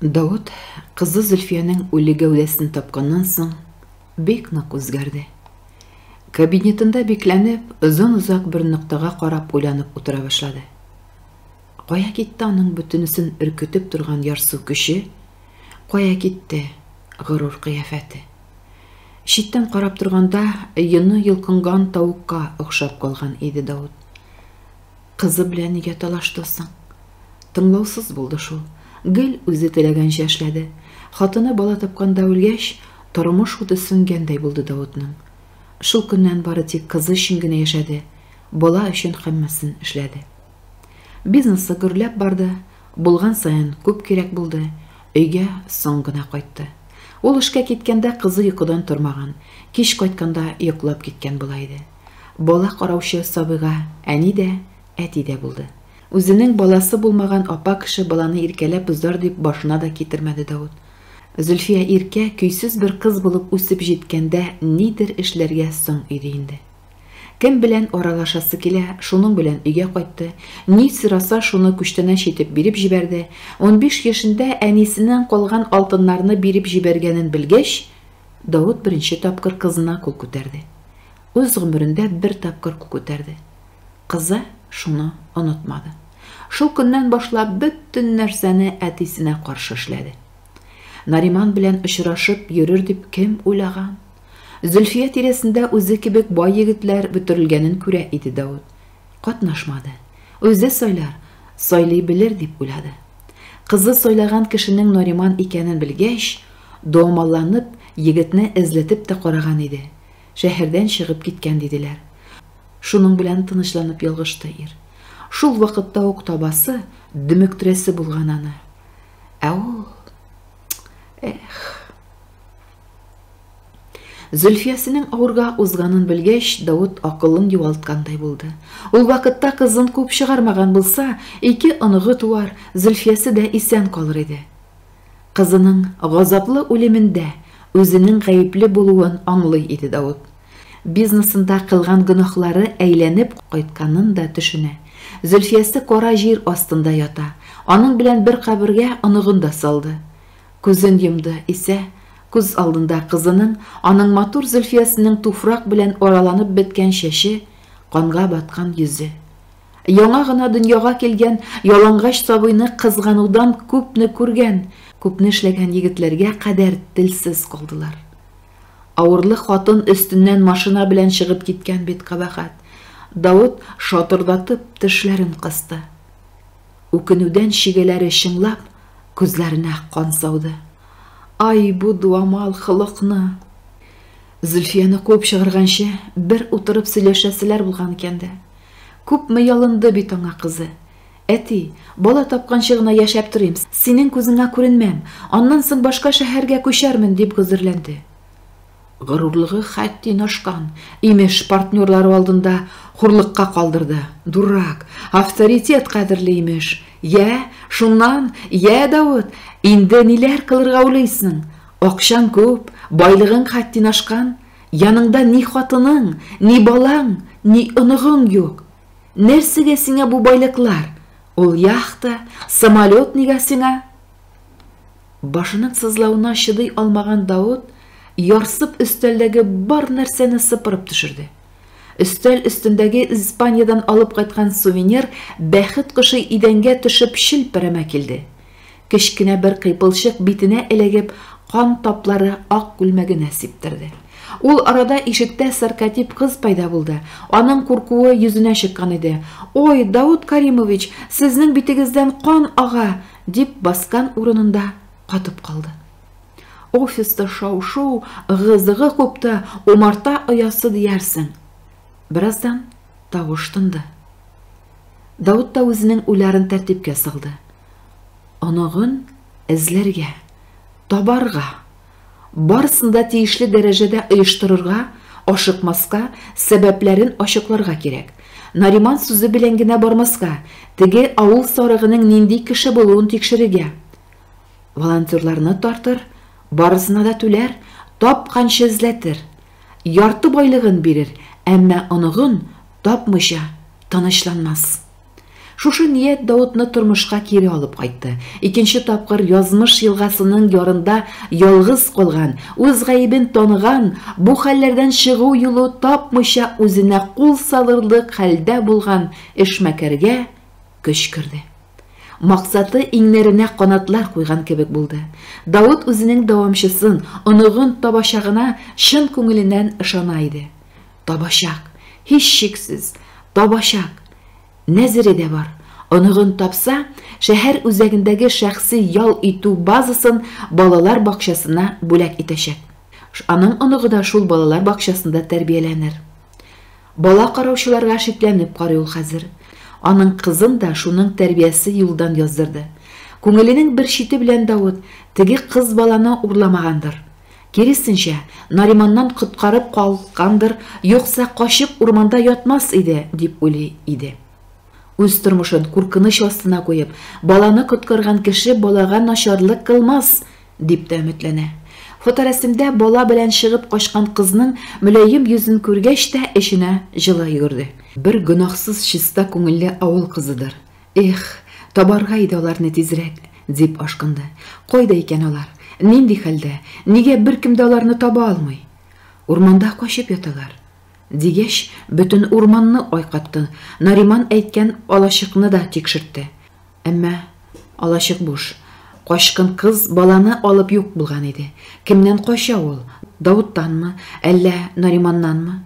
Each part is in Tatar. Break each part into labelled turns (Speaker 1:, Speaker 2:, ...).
Speaker 1: Давыт кызы Зөлфиянең үле гәүдәсен тапканнан соң бик нык үзгәрде. Кабинетында бикләнеп, озын-озак бер ноктага карап уйланып утыра башлады. Кая китте аның бөтенесен өркетеп торган ярсу көче? Кая китте горур кыяфәте? Читтән карап торганда йоны йолкынган тавыкка охшап калган иде Давыт. Кызы белән нигә талашты соң? Тыңлаусыз булды шул. Гел үзе теләгәнчә эшләде. Хатыны бала тапканда үлгәч, тормыш уты сүнгәндәй булды Даутның. Шул көннән бары тик кызы өчен генә яшәде, бала өчен һәммәсен эшләде. Бизнесы гөрләп барды, булган саен күп кирәк булды, өйгә соң гына кайтты. Ул эшкә киткәндә кызы йокыдан тормаган, кич кайтканда йоклап киткән була иде. Бала караучы сабыйга әни дә, әти дә булды. Үзенең баласы булмаган апа кеше баланы иркәләп узар дип башына да китермәде Давыт. Зөлфия иркә, көйсез бер кыз булып үсеп җиткәндә нидер эшләргә соң иде инде. Кем белән аралашасы килә, шуның белән өйгә кайтты, ни сораса, шуны күчтәнәч итеп биреп җибәрде. Унбиш яшендә әнисеннән калган алтыннарны биреп җибәргәнен белгәч, Давыт беренче тапкыр кызына кул күтәрде. Үз гомерендә бер тапкыр күк күтәрде. Кызы шуны онытмады. Шул көннән башлап бөтен нәрсәне әтисенә каршы эшләде. Нариман белән очрашып йөрер дип кем уйлаган? Зөлфия тирәсендә үзе кебек бай егетләр бөтерелгәнен күрә иде Давыт. Катнашмады. Үзе сайлар, сайлый белер дип уйлады. Кызы сайлаган кешенең Нариман икәнен белгәч, домаланып, егетне эзләтеп тә караган иде. Шәһәрдән чыгып киткән, диделәр. Шуның белән тынычланып ялгышты ир. Шул вакытта ук табасы, дөмектерәсе булган аны. Ә ул... Эх... Зөлфиясенең авырга узганын белгәч, Давыт акылын югалткандай булды. Ул вакытта кызын куып чыгармаган булса, ике оныгы туар, Зөлфиясе дә исән калыр иде. Кызының газаплы үлемендә үзенең гаепле булуын аңлый иде Давыт. Бизнесында кылган гөнаһлары әйләнеп кайтканын да төшенә. Зөлфиясе кара җир астында ята. Аның белән бер кабергә оныгын да салды. Күзен йомды исә, күз алдында кызының, аның матур Зөлфиясенең туфрак белән араланып беткән чәче, канга баткан йөзе. Яңа гына дөньяга килгән ялангач сабыйны кызганудан күпне күргән, күпне эшләгән егетләргә кадәр телсез калдылар. Авырлы хатын өстеннән машина белән чыгып киткән бит кабахат. Давыт шатырдатып тешләрен кысты. Үкенүдән чигәләре чыңлап, күзләренә кан сауды. Ай, бу дуамал хылыкны! Зөлфияне куып чыгарганчы, бер утырып сөйләшәселәр булган икән дә. Күпме ялынды бит аңа кызы. Әти, бала тапканчы гына яшәп торыйм, синең күзеңә күренмәм, аннан соң башка шәһәргә күчәрмен, дип гозерләнде. Горурлыгы хәтти нашкан, имеш, партнерлары алдында хурлыкка калдырды. Дурак, авторитет кадерли, имеш. Йә, шуннан, йә, Давыт, инде ниләр кылырга уйлыйсың? Акчаң күп, байлыгың хәтти нашкан. Яныңда ни хатының, ни балаң, ни оныгың юк. Нәрсәгә сиңа бу байлыклар? Ул яхта, самолет нигә сиңа? Башының сызлавына чыдый алмаган Даут ярсып өстәлдәге бар нәрсәне сыпырып төшерде. Өстәл өстендәге Испаниядән алып кайткан сувенир бәхет кошы идәнгә төшеп челпәрәмә килде. Кечкенә бер кыйпылчык битенә эләгеп, кан таплары ак күлмәгенә сиптерде. Ул арада ишектә саркатип кыз пайда булды. Аның куркуы йөзенә чыккан иде. Ой, Даут Каримович, сезнең битегездән кан ага! дип баскан урынында катып калды. Офиста шау-шу, ыгы-зыгы купты, умарта оясы диярсең. Бераздан тавыш тынды. Даут та үзенең уйларын тәртипкә салды. оныгын эзләргә, табарга, барысын да тиешле дәрәҗәдә оештырырга, ашыкмаска, сәбәпләрен ачыкларга кирәк. Нариман сүзе белән генә бармаска, теге авыл сарыгының нинди кеше булуын тикшерергә. Волонтерларны тартыр, барысына да түләр, тапканчы эзләтер. Ярты байлыгын бирер, әмма оныгын тапмыйча тынычланмас. Шушы ният Даутны тормышка кире алып кайтты. Икенче тапкыр язмыш елгасының ярында ялгыз калган, үз гаебен таныган, бу хәлләрдән чыгу юлы тапмыйча үзенә кул салырлык хәлдә булган эшмәкәргә көч керде. Максаты иңнәренә канатлар куйган кебек булды. Даут үзенең дәвамчысын, оныгын табачагына чын күңеленнән ышана иде. Табачак, һичшиксез, табачак. Нәзере дә бар. Оныгын тапса, шәһәр үзәгендәге шәхси ял итү базасын балалар бакчасына бүләк итәчәк. Аның оныгы да шул балалар бакчасында тәрбияләнер. Бала караучыларга шикләнеп карый ул хәзер. Аның кызын да шуның тәрбиясе юлдан яздырды. Күңеленең бер чите белән Давыт теге кыз баланы урламагандыр. Киресенчә, Нариманнан коткарып калгандыр, юкса качып урманда ятмас иде, дип уйлый иде. Үз тормышын куркыныч астына куеп, баланы коткарган кеше балага начарлык кылмас, дип тә өметләнә. Фоторәсемдә бала белән чыгып качкан кызның мөлаем йөзен күргәч тә эченә җылы йөгерде. Бер гөнаһсыз чиста күңелле авыл кызыдыр, Эх, табарга иде аларны тизрәк, дип ашкынды. Кайда икән алар? Нинди хәлдә? Нигә беркем дә аларны таба алмый? Урманда качып яталар. Дигәч, бөтен урманны айкатты, Нариман әйткән алачыкны да тикшертте. Әмма алачык буш. Качкын кыз баланы алып юк булган иде. Кемнән кача ул? Давыттанмы, әллә Нариманнанмы?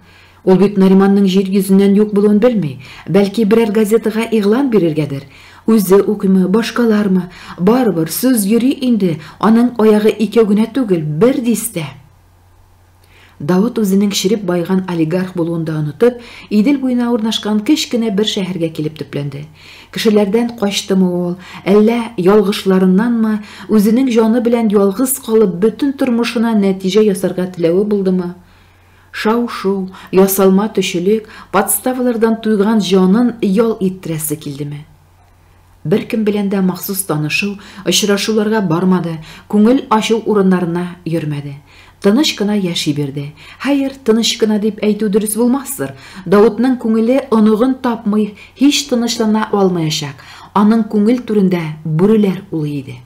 Speaker 1: Ул бит Нариманның җир йөзеннән юк булуын белми, бәлки берәр газетага игълан бирергәдер. Үзе укыймы, башкалармы, барыбер, сүз йөри инде, аның аягы икәү генә түгел, бер дистә! Давыт үзенең череп байыган олигарх булуын да онытып, Идел буена урнашкан кечкенә бер шәһәргә килеп төпләнде. Кешеләрдән качтымы ул, әллә ялгышларыннанмы, үзенең җаны белән ялгыз калып, бөтен тормышына нәтиҗә ясарга теләве булдымы? Шау-шу, ясалма төчелек, подставалардан туйган җанын ял иттерәсе килдеме? Беркем белән дә махсус танышыу, очрашуларга бармады, күңел ачу урыннарына йөрмәде. Тыныч кына яши бирде. Хәер, тыныч кына дип әйтү дөрес булмастыр. Даутның күңеле оныгын тапмый, һич тынычлана алмаячак. Аның күңел түрендә бүреләр улый иде.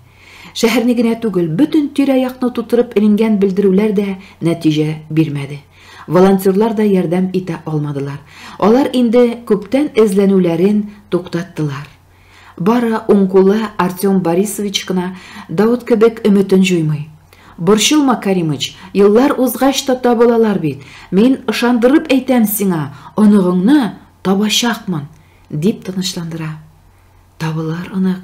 Speaker 1: Шәһәрне генә түгел, бөтен тирә-якны тутырып эленгән белдерүләр дә нәтиҗә бирмәде. Волонтерлар да ярдәм итә алмадылар. Алар инде күптән эзләнүләрен туктаттылар. Бары уң кулы Артем Борисович кына Давыт кебек өметен җуймый. Борчылма, Каримыч, еллар узгач та табылалар бит. Мин ышандырып әйтәм сиңа, оныгыңны табачакмын, дип тынычландыра. Табылыр, онык,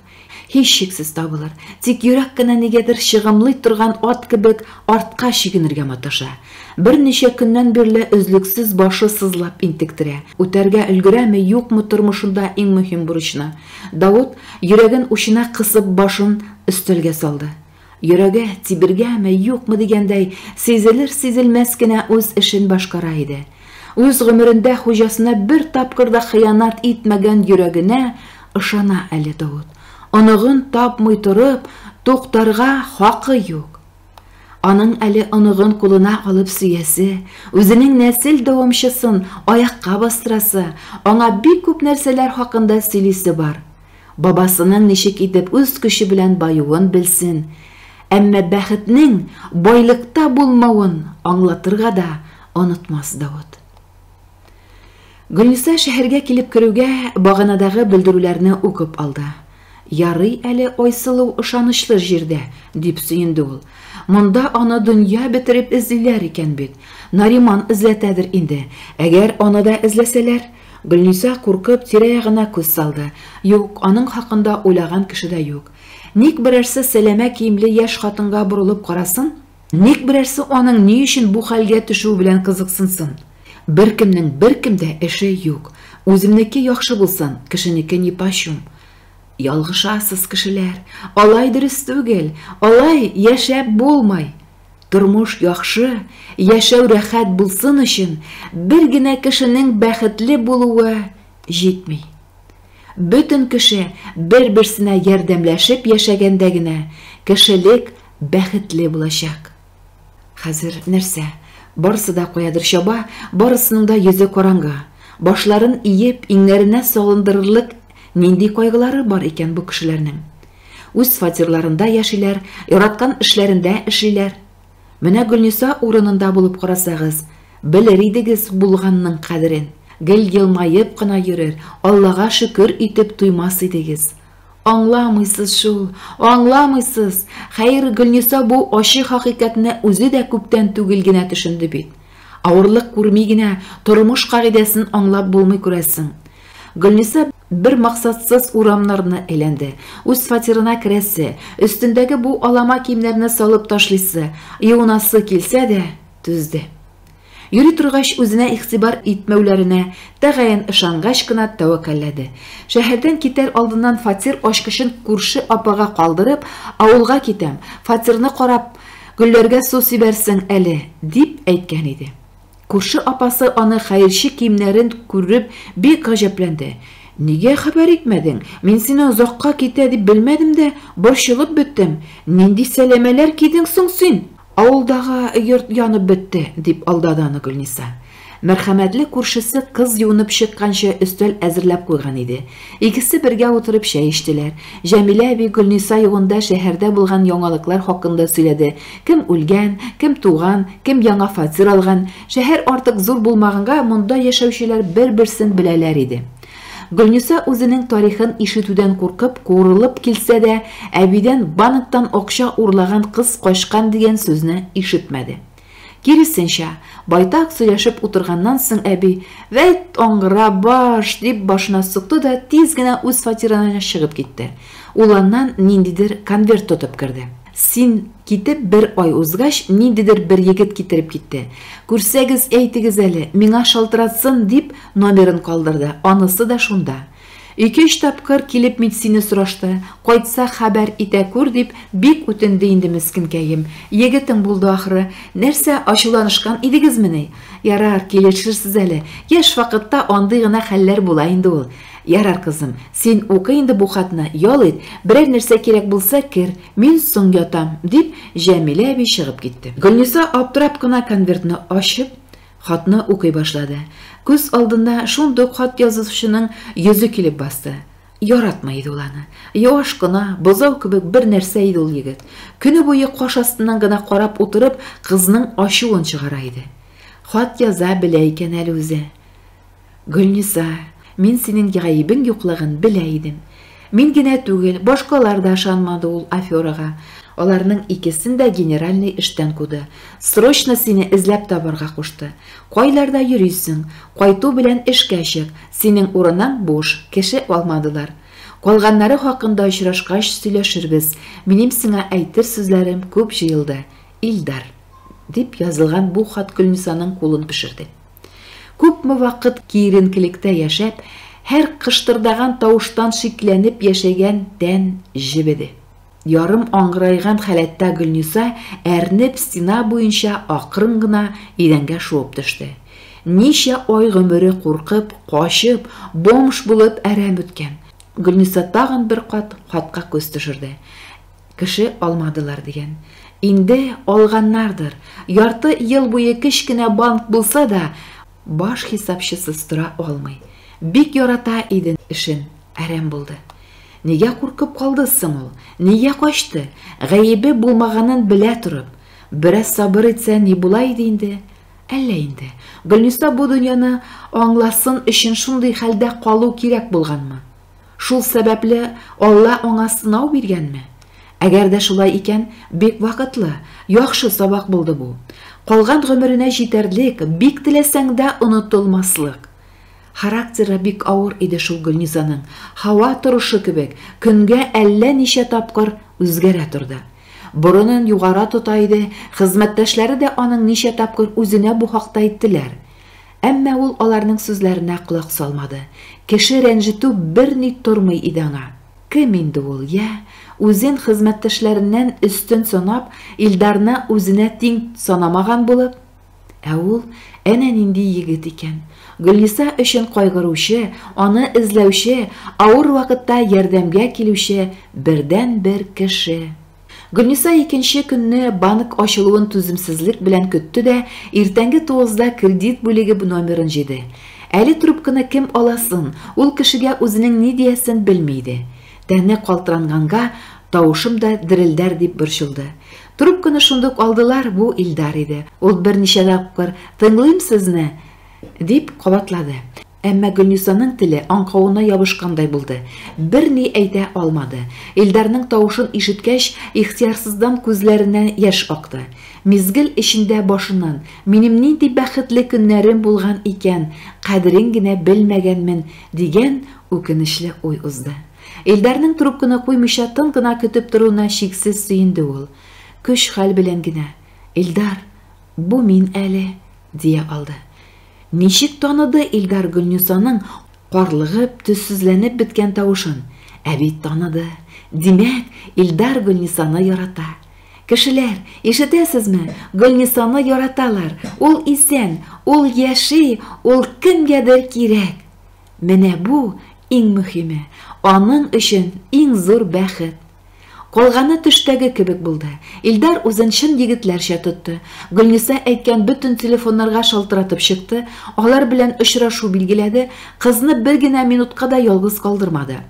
Speaker 1: һичшиксез табылыр. Тик йөрәк кенә нигәдер чыгымлый торган ат кебек артка чигенергә маташа. Берничә көннән бирле өзлексез башы сызлап интектерә. Үтәргә өлгерәме, юкмы тормышында иң мөһим бурычны? Давыт, йөрәген учына кысып, башын өстәлгә салды. Йөрәге тибергәме, юкмы дигәндәй, сизелер-сизелмәс кенә үз эшен башкара иде. Үз гомерендә хуҗасына бер тапкыр да хыянат итмәгән йөрәгенә ышана әле Давыт. Оныгын тапмый торып, туктарга хакы юк. Аның әле оныгын кулына алып сөясе, үзенең нәсел дәвамчысын аякка бастырасы, аңа бик күп нәрсәләр хакында сөйлисе бар. Бабасының ничек итеп үз көче белән баюын белсен, әмма бәхетнең байлыкта булмавын аңлатырга да онытмас Давыт. Гөлниса шәһәргә килеп керүгә, баганадагы белдерүләрне укып алды. Ярый әле Айсылу ышанычлы җирдә, дип сөенде ул. Монда аны дөнья бетереп эзлиләр икән бит. Нариман эзләтәдер инде. Әгәр аны да эзләсәләр, Гөлниса, куркып, тирә-ягына күз салды. Юк, аның хакында уйлаган кеше дә юк. Ник берәрсе сәләмә киемле яшь хатынга борылып карасын? Ник берәрсе аның ни өчен бу хәлгә төшүе белән кызыксынсын? Беркемнең беркем дә эше юк. Үземнеке яхшы булсын, кешенеке нипочем. Ялгышасыз, кешеләр. Алай дөрес түгел. Алай яшәп булмый. Тормыш яхшы, яшәү рәхәт булсын өчен бер генә кешенең бәхетле булуы җитми. Бөтен кеше бер-берсенә ярдәмләшеп яшәгәндә генә кешелек бәхетле булачак. Хәзер нәрсә? Барысы да каядыр чаба, барысының да йөзе караңгы. Башларын иеп, иңнәренә салындырырлык нинди кайгылары бар икән бу кешеләрнең? Үз фатирларында яшиләр, яраткан эшләрендә эшлиләр. Менә Гөлниса урынында булып карасагыз, белер идегез булганның кадерен. Гел елмаеп кына йөрер, Аллага шөкер итеп туймас идегез. Аңламыйсыз шул, аңламыйсыз! Хәер, Гөлниса бу ачы хакыйкатьне үзе дә күптән түгел генә төшенде бит. Авырлык күрми генә тормыш кагыйдәсен аңлап булмый күрәсең. Гөлниса Бер максатсыз урамнарны әйләнде. Үз фатирына керәсе, өстендәге бу алама киемнәрне салып ташлыйсы, юынасы килсә дә, түзде. Йөри торгач, үзенә игътибар итмәүләренә тәгаен ышангач кына тәвәккәлләде. Шәһәрдән китәр алдыннан фатир ачкычын күрше апага калдырып, авылга китәм, фатирны карап, гөлләргә су сибәрсең әле, дип әйткән иде. Күрше апасы аны хәерче киемнәрен күреп бик гаҗәпләнде. Нигә хәбәр итмәдең? Мин сине озакка китә дип белмәдем дә, борчылып беттем. Нинди сәләмәләр кидең соң син? Авылдагы йорт янып бетте, дип алдады аны Гөлниса. Мәрхәмәтле күршесе кыз юынып чыкканчы өстәл әзерләп куйган иде. Икесе бергә утырып чәй эчтеләр. Җәмилә әби Гөлниса югында шәһәрдә булган яңалыклар хакында сөйләде, Кем үлгән, кем туган, кем яңа фатир алган, шәһәр артык зур булмаганга, монда яшәүчеләр бер-берсен беләләр иде. Гөлниса үзенең тарихын ишетүдән куркып, куырылып килсә дә, әбидән банктан акча урлаган кыз качкан дигән сүзне ишетмәде. Киресенчә, байтак сөйләшеп утырганнан соң әби, Вәйт, аңгыра баш! дип башына сукты да тиз генә үз фатирына чыгып китте. Ул аннан ниндидер конверт тотып керде. Син китеп бер ай узгач, ниндидер бер егет китереп китте. Күрсәгез, әйтегез әле, миңа шалтыратсын, дип, номерын калдырды, анысы да шунда. Ике-өч тапкыр килеп мин сине сорашты, кайтса хәбәр итә күр, дип, бик үтенде инде мескенкәем. Егетең булды ахры. Нәрсә, ачуланышкан идегезмени? Ярар, килешерсез әле. Яшь вакытта андый гына хәлләр була инде ул. Ярар, кызым, син укы инде бу хатны, ял ит, берәр нәрсә кирәк булса, кер, мин соң ятам, дип, Җәмилә әби чыгып китте. Гөлниса аптырап кына конвертны ачып, хатны укый башлады. Күз алдына шундук хат язучының йөзе килеп басты. Яратмый иде ул аны. Юаш кына, бозау кебек бер нәрсә иде ул егет. Көне буе каш астыннан гына карап утырып, кызның ачуын чыгара иде. Хат яза белә икән әле үзе. Гөлниса, мин синең гаебең юклыгын белә идем. Мин генә түгел, башкалар да ышанмады ул аферага. Аларның икесен дә генеральный эштән куды. Срочно сине эзләп табарга кушты. Кайларда йөрисең, кайту белән эшкә чык, синең урының буш, кеше алмадылар. Калганнары хакында очрашкач сөйләшербез, минем сиңа әйтер сүзләрем күп җыелды, Илдар, дип язылган бу хат Гөлнисаның кулын пешерде. Күпме вакыт киеренкелектә яшәп, һәр кыштырдаган тавыштан шикләнеп яшәгән тән җебеде. Ярым аңгыраеган халәттә Гөлниса, әрнеп, стена буенча акрын гына идәнгә шуып төште. Ничә ай гомере куркып, качып, бомж булып әрәм үткән. Гөлниса тагын бер кат хатка күз төшерде. Кеше алмадылар дигән. Инде алганнардыр. Ярты ел буе кечкенә банк булса да, баш хисапчысыз тора алмый. Бик ярата иде эшен, әрәм булды. Нигә куркып калды соң ул? Нигә качты? Гаебе булмаганын белә торып. Бераз сабыр итсә, ни була иде инде? Әллә инде. Гөлниса бу дөньяны аңласын өчен шундый хәлдә калу кирәк булганмы? Шул сәбәпле Алла аңа сынау биргәнме? Әгәр дә шулай икән, бик вакытлы, яхшы сабак булды бу. Калган гомеренә җитәрлек, бик теләсәң дә онытылмаслык. Характеры бик авыр иде шул Гөлнизаның, һава торышы кебек, көнгә әллә ничә тапкыр үзгәрә торды. Борынын югара тота иде, хезмәттәшләре дә аның ничә тапкыр үзенә бу хакта әйттеләр. Әмма ул аларның сүзләренә колак салмады. Кеше рәнҗетү берни тормый иде аңа. Кем инде ул, йә? Үзен хезмәттәшләреннән өстен санап, Илдарны үзенә тиң санамаган булып? Ә ул әнә нинди егет икән! Гөлниса өчен кайгыручы, аны эзләүче, авыр вакытта ярдәмгә килүче бердәнбер кеше! Гөлниса икенче көнне банк ачылуын түземсезлек белән көтте дә, иртәнге тугызда кредит бүлеге номерын җыйды. Әле трубканы кем аласын, ул кешегә үзенең ни диясен белми иде. Тәне калтыранганга, тавышым да дерелдәр дип борчылды. Трубканы шундук алдылар, бу Илдар иде. Ул берничә тапкыр, Тыңлыйм сезне! дип кабатлады. Әмма Гөлнисаның теле аңкавына ябышкандай булды. Берни әйтә алмады. Илдарның тавышын ишеткәч, ихтыярсыздан күзләреннән яшь акты. Мизгел эчендә башыннан, Минем нинди бәхетле көннәрем булган икән, кадерен генә белмәгәнмен, дигән үкенечле уй узды. Илдарның трубканы куймыйча тын гына көтеп торуына чиксез сөенде ул. Көч-хәл белән генә, Илдар, бу мин әле, дия алды. Ничек таныды Илдар Гөлнисаның карлыгып, төссезләнеп беткән тавышын? Ә бит таныды. Димәк, Илдар Гөлнисаны ярата. Кешеләр, ишетәсезме, Гөлнисаны яраталар, ул исән, ул яши, ул кемгәдер кирәк! Менә бу, иң мөхиме, аның өчен иң зур бәхет. Калганы төштәге кебек булды. Илдар үзен чын егетләрчә тотты. Гөлниса әйткән бөтен телефоннарга шалтыратып чыкты, алар белән очрашу билгеләде, кызны бер генә минутка да ялгыз калдырмады.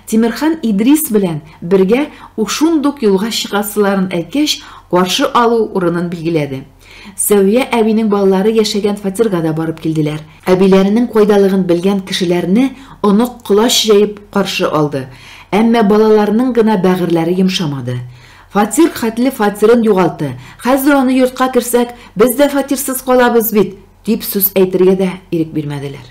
Speaker 1: Тимерхан Идрис белән бергә шундук юлга чыгасыларын әйткәч, каршы алу урынын билгеләде. Сәвия әбинең балалары яшәгән фатирга да барып килделәр. Әбиләренең кайдалыгын белгән кешеләрне онык колач җәеп каршы алды. Әмма балаларының гына бәгырьләре йомшамады. Фатир хәтле фатирын югалты, хәзер аны йортка керсәк, без дә фатирсыз калабыз бит, дип сүз әйтергә дә ирек бирмәделәр.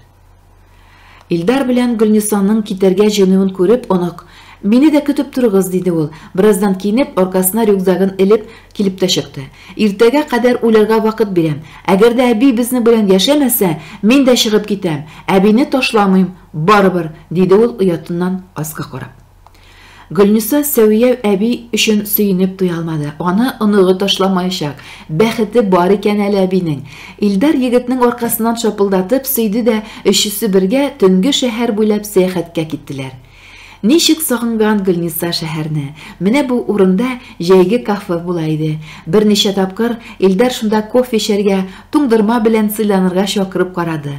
Speaker 1: Илдар белән Гөлнисаның китәргә җыенуын күреп, онык, Мине дә көтеп торыгыз, диде ул. Бераздан киенеп, аркасына рюкзагын элеп, килеп тә чыкты. Иртәгә кадәр уйларга вакыт бирәм. Әгәр дә әби безнең белән яшәмәсә, мин дә чыгып китәм. Әбине ташламыйм, барыбер, диде ул оятыннан аска карап. Гөлниса Сәвия әби өчен сөенеп туя алмады. Аны оныгы ташламаячак. Бәхете бар икән әле әбинең. Илдар егетнең аркасыннан шапылдатып сөйде дә, өчесе бергә төнге шәһәр буйлап сәяхәткә киттеләр. Ничек сагынган Гөлниса шәһәрне. Менә бу урында җәйге кафе була иде. Берничә тапкыр Илдар шунда кофе эчәргә, туңдырма белән сыйланырга чакырып карады.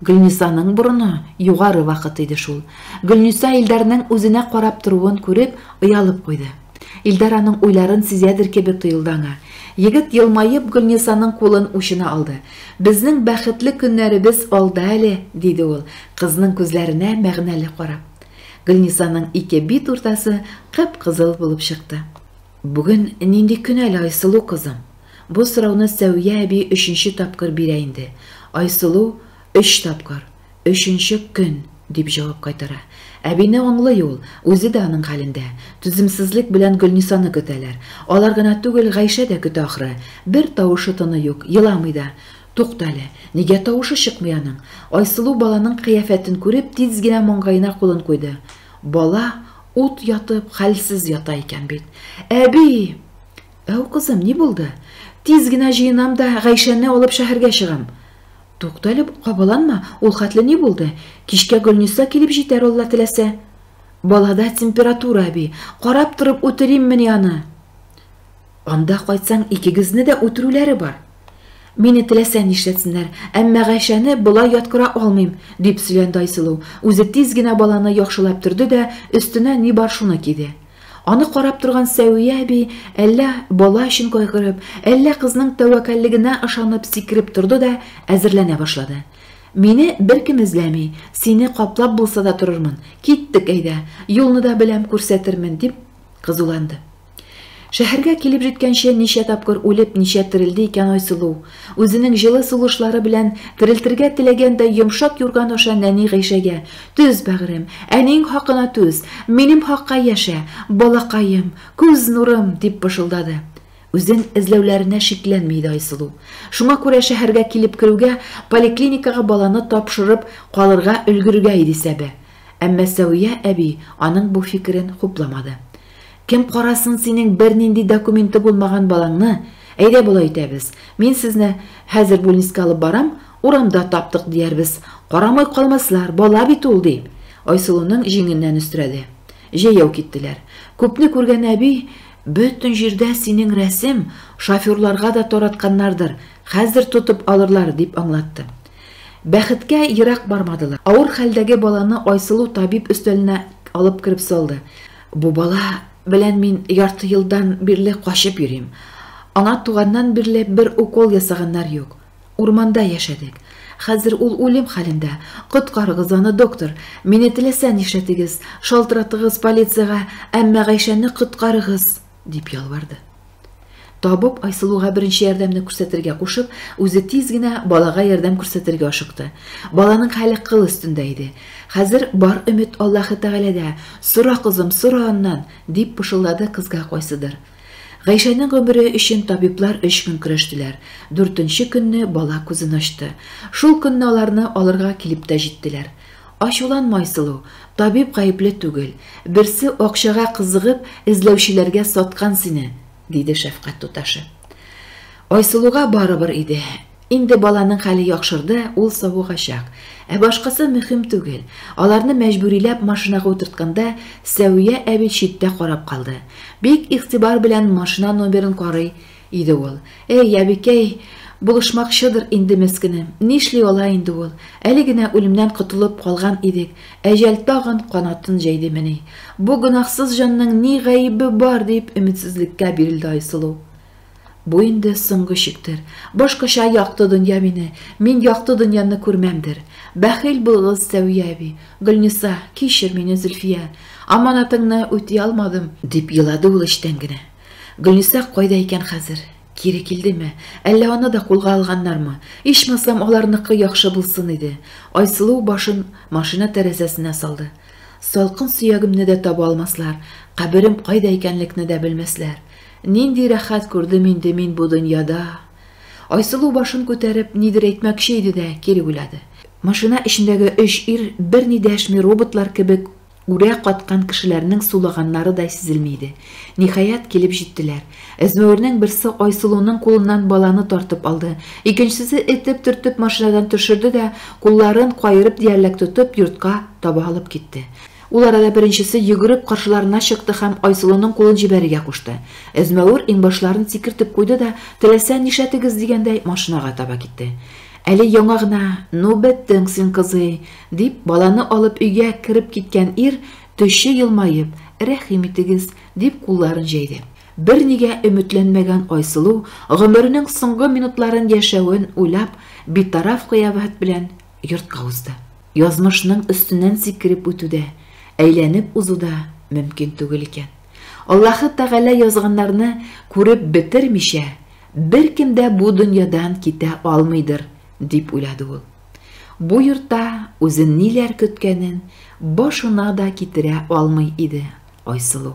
Speaker 1: Гөлнисаның борыны югары вакыт иде шул. Гөлниса Илдарның үзенә карап торуын күреп, оялып куйды. Илдар аның уйларын сизәдер кебек тоелды аңа. Егет елмаеп Гөлнисаның кулын учына алды. Безнең бәхетле көннәребез алда әле, диде ул, кызның күзләренә мәгънәле карап. Гөлнисаның ике бит уртасы кып-кызыл булып чыкты. Бүген нинди көн әле, Айсылу кызым? Бу сорауны Сәвия әби өченче тапкыр бирә инде. Айсылу, Өч тапкыр. Өченче көн, дип җавап кайтара. Әбине аңлый ул, үзе дә аның хәлендә. Түземсезлек белән Гөлнисаны көтәләр. Алар гына түгел, Гайшә дә көтә ахры. Бер тавышы-тыны юк, еламый да. Тукта әле, нигә тавышы чыкмый аның? Айсылу баланың кыяфәтен күреп, тиз генә маңгаена кулын куйды. Бала ут ятып, хәлсез ята икән бит. Әби! Тәү кызым, ни булды? Тиз генә җыенам да, Гайшәне алып шәһәргә чыгам. Туктале, кабаланма, ул хәтле ни булды? Кичкә Гөлниса килеп җитәр, Алла теләсә. Балада температура, әби, карап торып үтериммени аны? Анда кайтсаң, икегезне дә үтерүләре бар. Мине теләсә нишләтсеннәр, әмма Гайшәне болай яткыра алмыйм, дип сөйләнде Айсылу. Үзе тиз генә баланы яхшылап төрде дә, өстенә ни бар шуны киде. Аны карап торган Сәвия әби әллә бала өчен кайгырып, әллә кызның тәвәккәллегенә ышанып сикереп торды да әзерләнә башлады. Мине беркем эзләми, сине каплап булса да торырмын. Киттек, әйдә, юлны да беләм, күрсәтермен, дип кызуланды. Шәһәргә килеп җиткәнче ничә тапкыр үлеп, ничә терелде икән Айсылу? Үзенең җылы сулышлары белән терелтергә теләгәндәй йомшак юрган аша нәни Гыйшәгә, Түз, бәгърем, әниең хакына түз, минем хакка яшә, балакаем, күз нурым, дип пышылдады. Үзен эзләүләренә шикләнми иде Айсылу. Шуңа күрә шәһәргә килеп керүгә поликлиникага баланы тапшырып калырга өлгерергә иде исәбе. Әмма Сәвия әби аның бу фикерен хупламады. Кем карасын синең бернинди документы булмаган балаңны? Әйдә болай итәбез, мин сезне хәзер бүлнискә алып барам, урамда таптык диярбез, карамый калмаслар, бала бит ул, ди Айсылуның җиңеннән өстерәде. Җәяү киттеләр. Күпне күргән әби, Бөтен җирдә синең рәсем, шоферларга да таратканнардыр, хәзер тотып алырлар, дип аңлатты. Бәхеткә, ерак бармадылар. Авыр хәлдәге баланы Айсылу табиб өстәленә алып кереп салды. Бу бала белән мин ярты елдан бирле качып йөрим. Аңа туганнан бирле бер укол ясаганнар юк. Урманда яшәдек. Хәзер ул үлем хәлендә. Коткарыгыз аны, доктор. Мине теләсә нишләтегез, шалтыратыгыз полициягә, әмма Гайшәне коткарыгыз. дип ялварды. Табып Айсылуга беренче ярдәмне күрсәтергә кушып, үзе тиз генә балага ярдәм күрсәтергә ашыкты. Баланың хәле кыл өстендә иде. Хәзер бар өмет Аллаһы Тәгаләдә. Сора, кызым, сора аннан, дип пышылдады кызга кайсыдыр. Гайшәнең гомере өчен табиблар өч көн көрәштеләр. Дүртенче көнне бала күзен ачты. Шул көнне аларны алырга килеп тә җиттеләр. Ачуланма, Айсылу, табиб гаепле түгел, берсе акчага кызыгып, эзләүчеләргә саткан сине, диде шәфкать туташы. Айсылуга барыбер иде. Инде баланың хәле яхшырды, ул савыгачак. Ә башкасы мөһим түгел. Аларны мәҗбүриләп машинага утыртканда, Сәвия әби читтә карап калды. Бик игътибар белән машина номерын карый, Иде ул. Әй, әбекәй, булышмакчыдыр инде мескене. Нишли ала инде ул. Әле генә үлемнән котылып калган идек, әҗәл тагын канатын җәйдемени. Бу гөнаһсыз җанның ни гаебе бар, дип өметсезлеккә бирелде Айсылу. Бу инде соңгы чиктер. Башкача якты дөнья мине, мин якты дөньяны күрмәмдер. Бәхил булыгыз, Сәвия әби. Гөлниса, кичер мине, Зөлфия. Аманатыңны үти алмадым, дип елады ул эчтән генә. Гөлниса кайда икән хәзер? Кире килдеме? Әллә аны да кулга алганнармы? Ичмасам, аларныкы яхшы булсын иде. Айсылу башын машина тәрәзәсенә салды. Салкын сөягемне дә таба алмаслар, каберем кайда икәнлекне дә белмәсләр. Нинди рәхәт күрдем инде мин бу дөньяда! Айсылу башын күтәреп, нидер әйтмәкче иде дә, кире уйлады. Машина эчендәге өч ир берни дәшми, роботлар кебек, Үрә каткан кешеләрнең сулаганнарыдай сизелми иде. Ниһаять, килеп җиттеләр. Әзмәвернең берсе Айсылуның кулыннан баланы тартып алды, икенчесе этеп-төртеп машинадан төшерде дә, кулларын каерып диярлек тотып, йортка таба алып китте. Ул арада беренчесе йөгереп каршыларына чыкты һәм Айсылуның кулын җибәрергә кушты. Әзмәвер иңбашларын сикертеп куйды да, теләсә нишләтегез дигәндәй, машинага таба китте. Әле яңа гына, Ну, беттең син, кызый! Дип, баланы алып өйгә кереп киткән ир, төче елмаеп, Рәхим итегез, дип кулларын җәйде. Бернигә өметләнмәгән Айсылу, гомеренең соңгы минутларын яшәвен уйлап, битараф кыяфәт белән йортка узды. Язмышның өстеннән сикереп үтү дә, әйләнеп узу да мөмкин түгел икән. Аллаһы Тәгалә язганнарны күреп бетермичә, беркем дә бу дөньядан китә алмыйдыр, дип уйлады ул. Бу йортта үзен ниләр көткәнен башына да китерә алмый иде Айсылу.